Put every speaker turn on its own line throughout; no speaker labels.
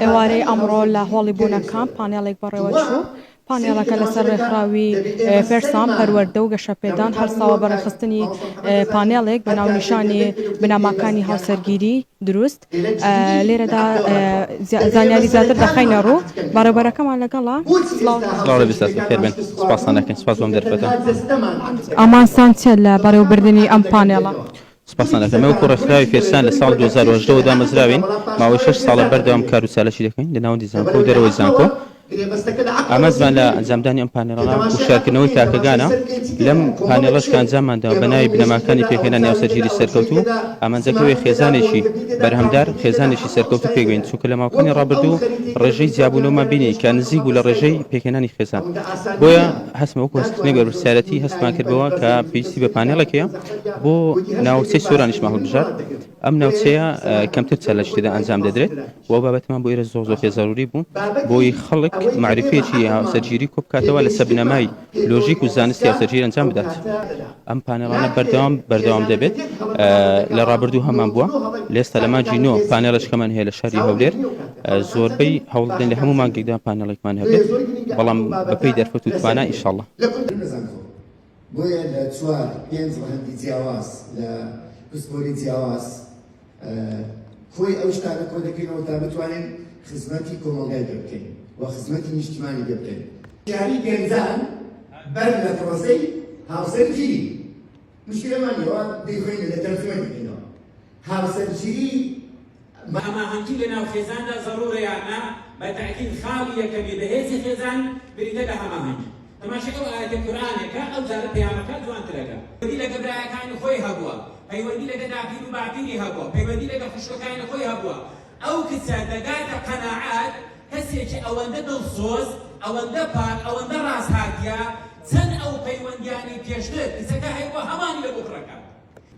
ئێوارەی ئەمڕۆ لە هۆڵی بوونەکان پانێڵێک بەڕێوەچوو پانێڵەکە لەسەر ڕێکخراوی پێرسان پەروەردە و گەشەپێدان هەرساوە بەڕێخستنی پانێڵێک بە ناونیشانی بناماکانی هاوسەرگیری دروست لێرەدا زانیاری زیاتر دەخەینە ڕوو بەڕێوبەرەکەمان لەگەڵە
ئامانجتان
چیە لە بەڕێوبردنی ئەم پانێڵە؟ سپاستان دەکەم ئێوە
وەکو ڕێکخراوی فێرسان لە ساڵی دوو هەزار و هەژدە وە دامەزراوین ماوەی شەش ساڵە بەردەوام کار و چالەکی دەکەین لە ناوەندی زانکۆ و دەرەوەی زانکۆ ئامانجمان لە ئەنجامدانی ئەم پانێڵە هوشیارکردنەوەی تاکەگانە، لەم پانێڵەش کە ئەنجاممانداوە بە ناوی بنەماکانی پێکهێنانی ئاوسەرگیری سەرکەوتوو، ئامانجەکە ئەوەیە خێزانێکی بەرهەمدار، خێزانێکی سەرکەوتوو پێک بێنین، چونکە لە ماوەکانی ڕابردوو ڕێژەی جیابوونەوەمان بینی کە نزیک بوو لە ڕێژەی پێکهێنانی خێزان، بۆیە هەستمان وەکو هەستکردنێک بەرپرسیارێتی هەستمان کردەوە کە پێویستی بە پانێڵێک هەیە بۆ ناوچەی سۆرانیش ماهور بژار. ئەم ناوچەیە کەمتر چەلەش تێدا ئەنجام دەدرێت و بابەتمان بۆ ئێرە زۆر زۆر پێ زەروری بوو بۆی خەڵک معرفەیەکی هاوسەرگیری کۆ بکاتەوە لەسەر بنەمای لۆژیک و زانستی هاوسەرگیری ئەنجام بدات ئەم پانێڵانە بەردەوام بەردەوام دەبێت لە ڕابردوو هەمان بووە لێستا لە ماجی نۆ پانێڵشکەمان هەیە لە شاری هەولێر زۆربەی هەوڵدن لە هەموو مانگێکدا پانێڵێکمان هەبێت بەڵام بەپی دەرفەت و توانای ئیشاڵڵە
بۆیە لە چوار پێنج ڕەهەندی جیاواز لە پسپۆری جیاواز کۆی ئەو شتانە کۆ دەکەینەوە تا بتوانین خزمەتی کۆمەڵگای پێ بکەین و خزمەتی نیشتیمانی پێ بکەین یاری گەنجان بەر لە پرۆسەی هاوسەرگیری مشکلەمان لەوە دەیخۆینە لە تەلفۆن دەکەینەوە هاوسەرگیری
ماماهەنگی لە ناو خێزاندا زەڕوورە یان نا؟ بە تەئکید خاڵی یەکەمی بەهێزی خێزان بریتە لە هەماهەنگی. تەماشای ئەو ئایەتە قورئانەکە ئەو جارە پەیامەکە جوانترەکە. پەیوەندی لەگە برایەکانی خۆی هەبووە، پەیوەندی لەگە داپیر و باپیری هەبووە، پەیوەندی لەگە خوشکەکانی خۆی هەبووە. ئەو کچە دەگاتە قەناعەت کەسێکی ئەوەندە دڵسۆز، ئەوەندە پاک، ئەوەندە ڕاسهاتیە، چەند ئەو پەیوەندیانەی پێشتر کچەکە هەیبووە هەمانی لەبۆ کوڕەکە.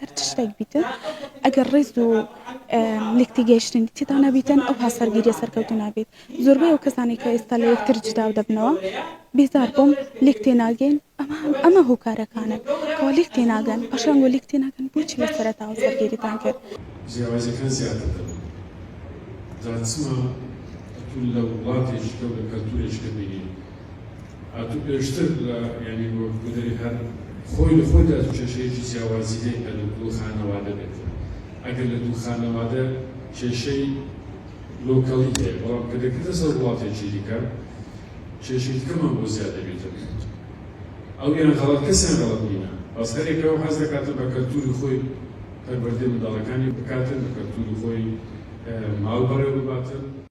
هەر چ شتێک بیتن ئەگەر ڕیز و لێک تێگەیشتنی تێدا نەبیتن ئەو هاسەرگیریە سەرکەوتو نابێت زۆربەی ئەو کەسانی کە ئێستا لە یەکتر جدا و دەبنەوە بێزار بووم لێک تێناگەین ئەمە ئەمە هۆکارەکانن کەوا لێک تێناگەن پاشان وە لێک تێناگەن بۆچی لە سەرەتاوە سەرگیریتان کرد جیاوازیەکان زیاتر
دەبن جا چما ئەتو لە وڵاتێکی کە و لە کەلتورێکی کە بینی ئاتو پێشتر لە یانی وەک گوندەری هەر خۆی لە خۆیدا دوو کێشەیەکی جیاوازی هەیە کە لە دوو خانەوادە بێت ئەگەر لە دوو خانەوادە کێشەی لۆکەڵی هەیە بەڵام کە دەکرێتە سەر وڵاتێکی دیکە کێشەی دیکەمان بۆ زیاد دەبێتەوە ئەویان غەڵەت کەسیان غەڵەت نینە بەس هەر یەکەوە حەز دەکاتە بە کەلتوری خۆی پەروەردەی منداڵەکانی بکاتن بە کەلتوری خۆی ماڵ بەڕێوە بباتن.